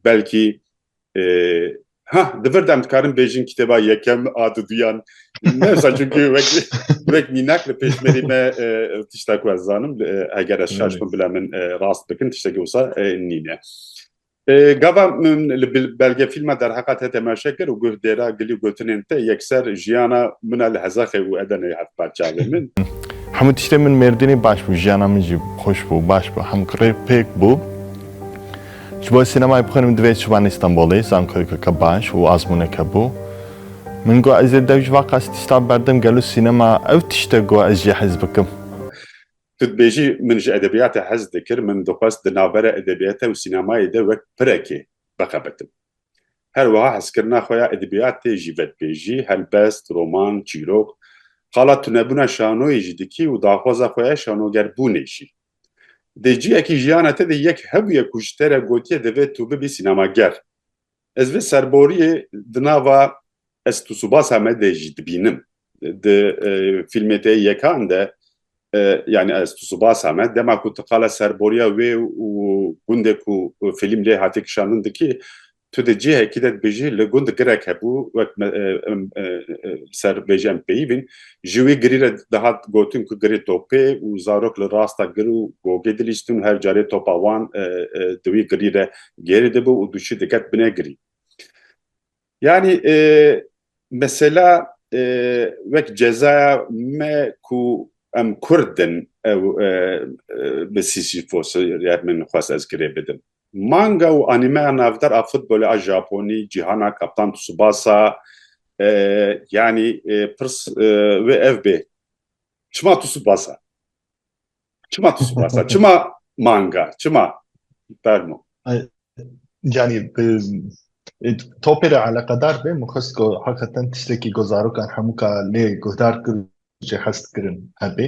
belkî Ha di vir dem dikarim bêjin kitêba yekem a di duyan newsa çünkü wek wek mînak li pêşmerî me tişta ku ez zanim eger ez şaş bin bila min rast bikin tiştekî wisa nîne. Gava min li belge fîlma derheqa te temaşe kir û guh dêra gilî gotinên te yekser jiyana min a li hezaxê û edenê heft parçavê min. Hemû tiştê min mêrdînî baş bû jiyana min jî xweş bû baş bû hemû rê pêk bû. Ji bo ez sînemayê bixwînim divê çibanî Stenbolê, zankoyekeke baş û azmûneke bû. Min got ez ê dew ji vaka stîsta berdim, gelo sînema ew tişt e ku ez jê hez bikim? Tu dibêjî min ji edebiyatê hez dikir, min dixwest di navbera edebiyate û sînemayê de wek pirekê bixebitim. Her wiha hezkirina xwe ya edebiyatê jî vedibêjî, helbest, roman, çîrok. Qala tunebûna şanoyê jî dikî û daxwaza xwe ya şanogerbûnê jî. Dê ciyekî jiyana te de yek hebûye ku ji te re gotiye divê tu bibî sînemager. Ez vê serboriyê di nava Ez tu subasa me de jî dibînim. Di fîlmê te yê yekan de yani ez tu subasa me dema ku tu qala serboriya wê û gundê ku fîlm lê hatê kişandin dikî Tu di cihekî de dibêjî li gund girek hebû wek me em li ser bêjî em peyivîn ji wî girî re dihat gotin ku girê topê û zarok li rasta gir û gogê dilîstin û her carê topa wan di wî girî re gêrî dibû û dûçî diket binê girî. Yanî mesela wek cezaya me ku em kurdin ew bi sîsîfos ya min xwest ez girê bidim. Manga û anîmeya navdar a futbolê a Japonî, Cîhana Kaptan Tsubasa yanî pirs wê ev bê çima Tsubasa? Çima Tsubasa? Çima manga? Çima? Fermo. Yanî topê re eleqedar be min xwest ku heqeten tiştekî ku zarokan hemûka lê guhdar jê hest kirin hebê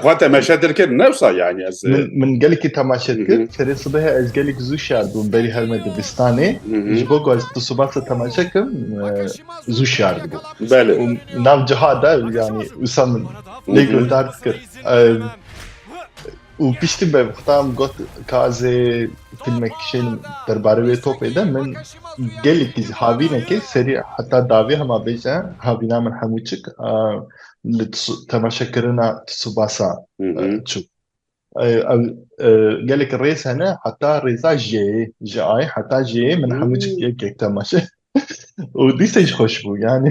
xwe temaşe dirkir newsa yani ez min gelekî temaşe dikir serê sibehê ez gelek zû şar bûm berî her me dibistanê ji bo ku ez tu sibasa temaşe kim zû şar dibû belê nav ciha da yani wisa min lê guhdar dikir Û piştî be xweta em got ka ez ê fîlmek kişênim derbarê wê topê de min gelekî ji havînekê serî heta davê hema bêje havîna min hemû çik a li temaşekirina Tsubasa çû. Ew gelek rêz hene heta rêza jeyê ji ayê heta jeyê min hemû çik yek yek temaşe û dîsa jî xweş bû yanî.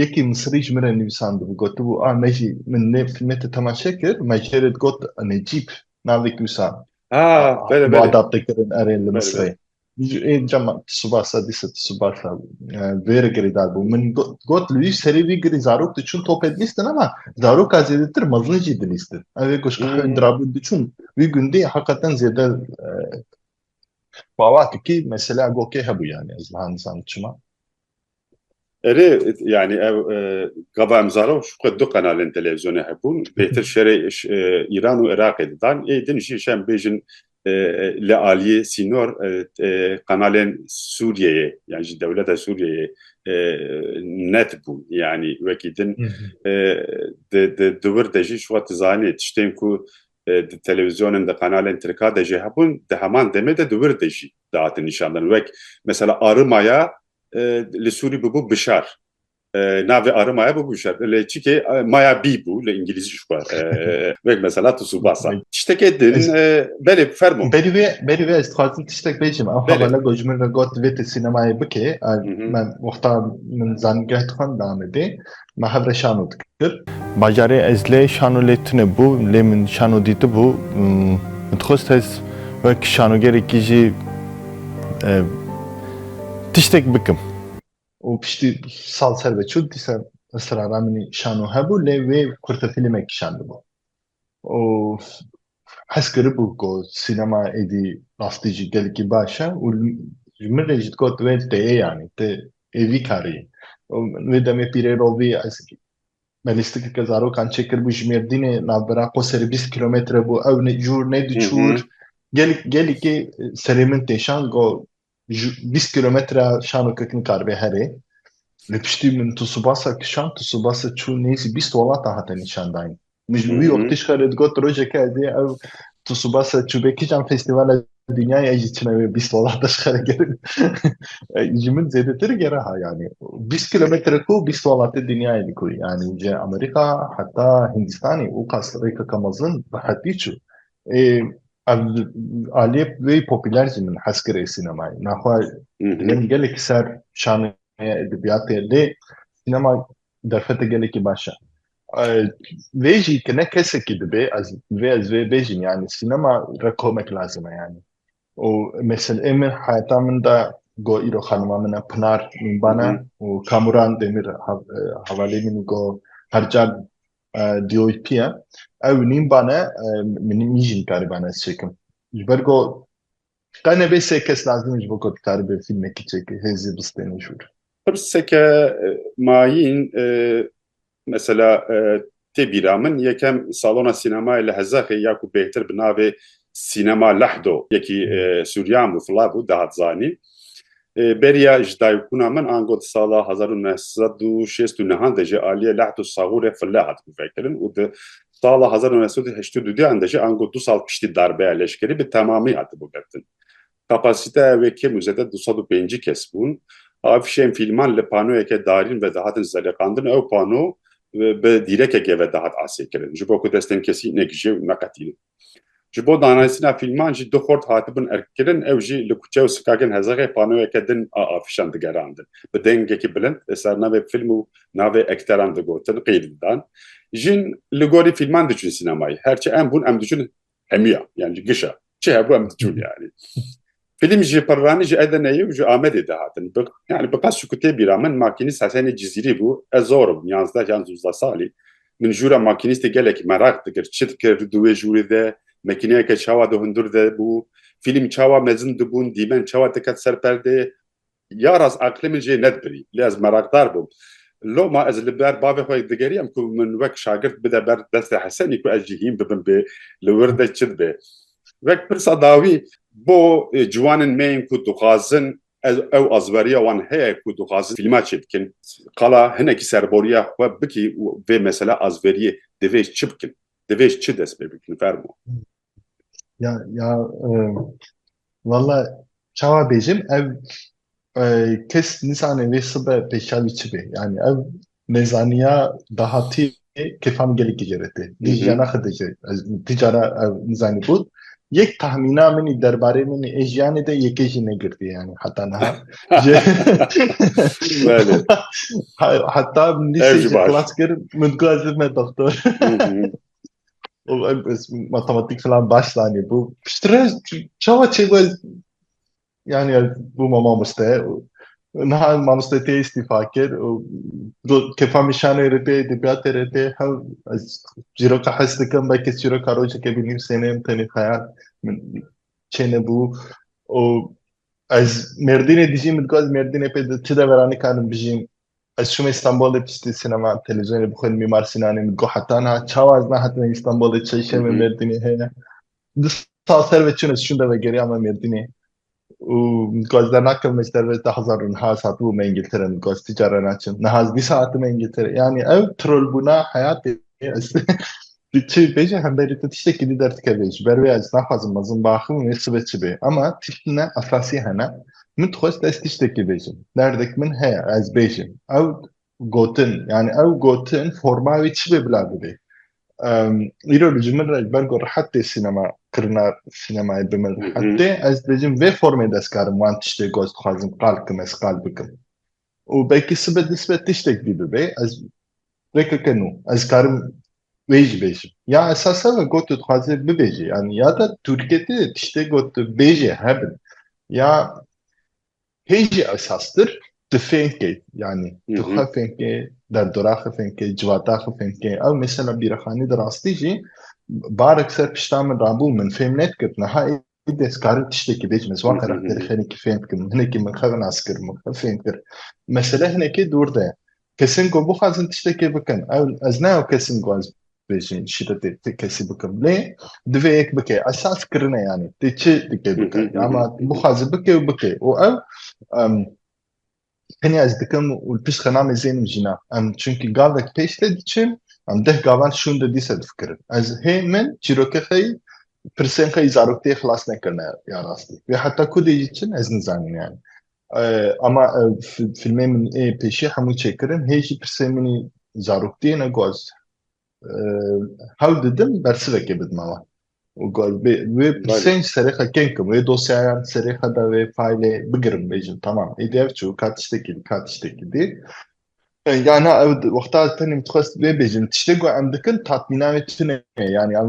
Yekî Misirî ji min re nivîsandibû, gotibû, A me jî, min nê fîlmê te temaşe kir, me ji hêrê digot Necîb navê kûsa û adapte kirin erê li Misirê. Dema Tsubasa dîsa Tsubasa vê re girêdar bû. Min got li wî serê wî girî zarok diçûn topê dilîstin ama zaroka zêdetir mezin jî dilîstin. Ev ê ku ji Hindirabû diçûn wî gundî heqeten zêde bawa dikî mesela gokê hebû yanî ez niha nizanim çima. Erê yani ev gava em zaro şuqe du qenalên televîzyonê hebûn bêtir şerê Îran û Iraqê didan ê din jî şem bêjin li aliyê sînor qenalên Sûriyeyê yan ji dewleta Sûriyeyê netbûn yanî wekî din di wir de jî şuwa tu zanî tiştên ku di televîzyonên di qenalên tirka de jî hebûn di heman demê de di wir de jî dihatin nîşandan wek mesela arimaya li Sûrî bû bişar navê arimaya bû bişar lê çikê maya bî bû li îngilîzî xwe wek mesela tu subasa tiştekê din belê fermo berî wê berî wê ez dixwazim tiştek bêjim ew hevala got ji min re got vê tu sînemayê bikê me wexta min zanîngeh dixwend namedê me hev re şano dikir. Bajarê Ezlê şano lê tune bû, lê min şano dîtibû. Min dixwest ez wek şanogerekî jî tiştek bikim. Û piştî sal ser ve çû, dîsa Israra min î şano hebû, lê wê kurtefîlmek kişandibû. Û Hez kiribû ku sînema êdî rastî jî gelekî baş e û ji min re jî digot wê têyê yanî tu ê vî karî wê demê pîrê rovî ez belîstikeke zarokan çê kiribû ji mêrdînê navbera qoserê bîst kîlometre bû ew ne jûr ne diçûr gelekî serê min têşand got 20 kilometre şano kek nikarbe herê. Li piştî min tu subasa kişan, tu subasa çû nêzî bîst welata hate nîşandayin. Min ji wî wextî ji xwe li digot rojeke ez ê ew tu subasa çûbê kijan festîvala dinyayê ez jî çima wê bîst welata ji xwe li gerin. Ji min zêdetir gera ha yanî. Bîst kilometre ku bîst welatê dinyayê li ku yanî ji Amerîka heta Hindîstanê û qas rêkeke mezin rehetî çû. Ev aliyê wê popüler jî min hez kir ê sînemayê. Naxwe leng gelekî ser şanê heye edebiyatê lê sînema derfete gelekî baş e. Vê jî tu ne kesekî dibê ez vê ez vê bêjim yanî sînema re komek lazim e yanî. Û meselê min heyata min de got îro xanima min e Pinar Mîmban e û Kamuran Demir hevalê min got her car DOP ye. Ew nîn bane, min nî jî nikaribane ez çêkim. Ji ber ku qe nebê sê kes lazim e ji bo ku dikaribê fîlmekî çêkê, hêzê bistêne jûr. Pirseke mayîn mesela tê bîra min, yekem salona sînemayê li Hezexê ya ku bêhtir bi navê Sînema Lehdo yekî Sûriyan bû, fla bû, dihat zanîn. Beriya ji dayikbûna min ango di sala hezar û neh sed û şêst û nihan de jî aliyê Lehd û Sagûr ê Fille hat guvekirin û di sala hezar û neh sed û heştê û du deyan de jî ango du sal piştî darbeya leşkerî bi temamî hatibû girtin. Kapasîteya wê kêm û zêde du sed û pêncî kes bûn. Afîşên fîlman li panoyeke darîn ve dihatin zeliqandin, ew pano bi dîrekeke ve dihat asêkirin ji bo ku destên kesî negije û neqetînin. Ji bo danayîstina fîlman jî du xort hatibûn erkkirin, ew jî li kuçe û sokakên Hezexê panoyeke din a afîşan digerandin. Bi dengekî bilind li ser navê fîlm û navê ekteran digotin, qîl didan. Jin li gorî fîlman diçûn sînemayê. Her çi em bûn em diçûn hemiya, yan ji giş a. Çi hebû em diçûn yanî. Fîlm ji Pirranî, ji Edeneyê û ji Amedê de hatin. Bi yanî bi qas çikû tê bîra min, makînîst Hesenê Cizîrî bû. Ez zor im, yanzdeh yan zûzdeh salî. Min jûra makînîstê gelekî meraq dikir. Çi dikir di wê jûrê de? Mekîneyeke çawa di hundur de bû? Fîlm çawa mezin dibûn? Dîmen çawa diket ser perdê? Ya rast aqilê min jê nedibirî lê ez merakdar bûm. Loma ez li ber bavê xwe digeriyam ku min wek şagirt bide ber destê Hesenî ku ez jî hîn bibim bê li wir de çi dibe. Wek pirsa dawî bo ciwanên me yên ku dixwazin ez ew azberiya wan heye ku dixwazin fîlma çê bikin. Qala hinekî serboriya xwe bikî û vê mesele azberiyê divê çi bikin? Divê çi dest pê bikin? Fermo. Ya ya valla çawa bêjim ev kes nîsanê vê sibe pêşavî çi bê yanî ev nêzaniya dahatî kêfan gelekî ceretê dî jiyana xwe de jî ez ti cara ev nîzanî bût yek tahmîna min ê derbarê min ê jiyanê de yekê jî negirtiye yanî heta niha heta min lîseyê jî xilas kir min got ez bibime doktor matematik falan baş zanî bû piştre çawa çêbû ez yani ez bûma mamoste niha mamoste tê îstîfa kir û kefa mîşanê rê tê edebiyatê rê tê hev ez çîroka hes dikim belkî çîroka rojekê binivîsêne em tenê xeyal min çênebû û ez mêrdînê dijîm min dixwaz mêrdînê pê çi deveranê karim bijîm Ez çûme Stenbolê piştî sînema televîzyonê bixwe li Mîmar Sînanê min digot heta niha çawa ez nehatime Stenbolê çeyşê me Mêrdînê heye. Di sal ser ve çûn ez çûn de vegeriya me Mêrdînê û min digot ez dernakevime ji derve da hezar û niha ez hatibû me Îngiltere min digot ez ti care naçim niha ez dîsa hatime Îngiltere yanî ew trolbûna heyatê ez Tu çi bêje hemberî tu tiştekî dî derdikevê ji ber wê ez naxwazim mezin biaxivim wê sibe çi bê ema tiştine esasî hene min dixwest ez tiştekî bêjim derdek min heye ez bêjim ew gotin yanî ew gotin forma wê çi bê bila bibê Em, îro li ji min re ji ber ku rehet tê sînema kirina sînemayê bi min rehet tê ez dibêjim vê formê destkarim wan tiştê got dixwazim qal bikim ez qal bikim û belkî sibe di sibe tiştek dî bibe ez rêkeke nû ez karim wê jî bêjim ya esasa me got tu dixwazê bibêjî yanî ya de Tirkiyê de tiştê got tu bêjê hebin ya hê jî esastir tu fêm bikey yanî tu xwe fêm bikê derdora xwe fêm bikê civata xwe fêm bikê ew mesela bîrexanî di rastî jî barek ser pişta min rabû min fêm nedikir niha Ê destkarin tiştekî bêjin ez wan xerakterê xenekî fêm bikim hinekî min xev nas kir min xev fêm kir mesele hinekî dûr de kesin ku bixwazin tiştekê bikin ew ez ne ew kesin ku ez bêjin şîretê ti kesî bikim lê divê yek bike esas kirine yanî tê çi dike bike ama bixwazi bike û bike û ew Tenê ez dikim û li piştre namê zênim jîna. Em çunkî gavek pêş tê diçin, em deh gavan şûn de dîsa difikirin. Ez hê min çîrokê xwe yî pirsên xwe yî zaroktiyê xilas nekirine ya rastî. Wê heta ku dê jî çin ez nizanim yanî. Ama ev fîlmê min ê pêşî hemû çêkirin hê jî pirsên min yî zaroktiyê ne goz. Hewl didim bersivekê bidime wan. û got bê wê pirsên ji serê xwe kêm kim wê dosyayan ji serê xwe de wê faylê bigirim bêjim temam êdî ev çû ka tiştekî dî ka tiştekî dî ya na ew wexta tenê min dixwest wê bêjim tiştê ku em dikin tatmîna wê tune ye yanî em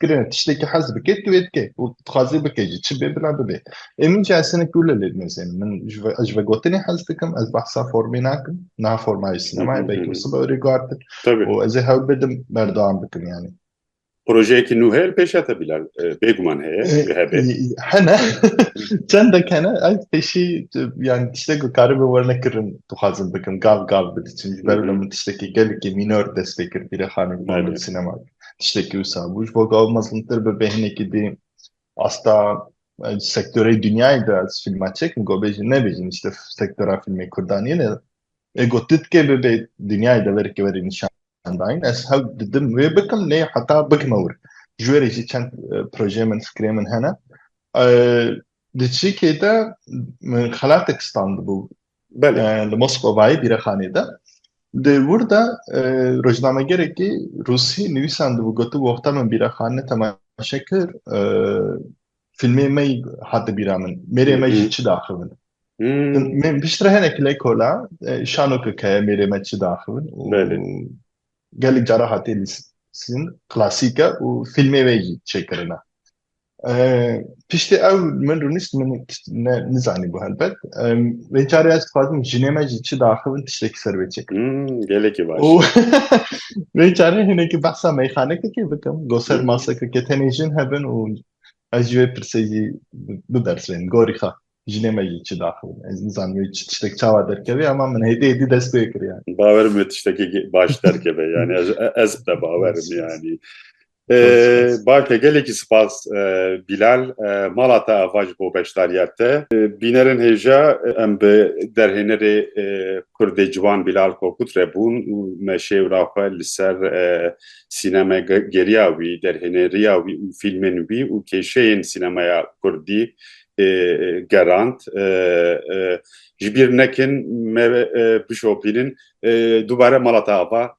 kirin e tiştekî hez bike tu ê dike û dixwazî bike jî çi bê bila bibe ê min jî ez hinek tu li lê dinêzin min ji vê ji vegotinê hez dikim ez behsa formê nakim niha forma jî sinemayê belkî min sibe erê guhardin û ez ê hewl bidim berdewam bikim yanî projeyekî nû heye li pêşiya te bîlan e, bêguman heye e, hebe hene çendek hene ez pêşî yan tiştek ku karî bi werne kirin dixwazim bikim gav gav bidiçim ji ber min tiştekî gelekî mînor dest pê kir pîrexanê sinema tiştekî wisa bû ji bo ku ew mezlûmtir bibe hinekî dî asta sektorê dinyayê de ez fîlma çêkim ku bêjin nebêjin îşte sektora fîlmê kurdan yên e ê ku tu dikê bibe dinyayê de verê verê nîşan dayîn ez hev didim wê bikim lê heta bikime wir ji wê re jî çend projeyê min fikrê min hene Di çîkê de xelatek standibû li Moskovayê bîrexanê de. Di wir de rojnamegerekî rûsî nivîsandibû gotibû wexta min bîrexane temaşe kir fîlmê me yî hate bîra min. Mêrê me jî çi diaxivin. Min piştre hinek lê kola şano ke keye mêrê me çi diaxivin û gelek cara hatiye lîstin klasîk e û fîlmê wê yî çêkirine. Piştî ew min rûnişt min ne nizanîbû helbet. Vê carê ez dixwazim jinê me jî çi diaxivin tiştekî ser wê çêkim. Gelekî baş. Û vê carê hinekî behsa meyxanekekê bikim. Go ser masekeke tenê jin hebin û ez ji wê pirsê jî bibersivînim. Gorî xwe jinê me jî çi diaxivin. Ez nizanim wê çi tiştek çawa derkevê ama min hêdî hêdî dest pê kiriye. Bawer bike tiştekî baş derkeve yanî ez ez bide bawerim yanî. Baş e gelekî spas Bîlal mala te ava ji bo beşdariya te. Bînerên hêja em bi derhênerê Kurdê ciwan Bîlal Kokut re bûn û me şêwra xwe li ser sîneme geriya wî, derhêneriya wî û fîlmên wî û kêşeyên sînemaya Kurdî gerand. Ji bîr nekin me bişopînin dubare mala te ava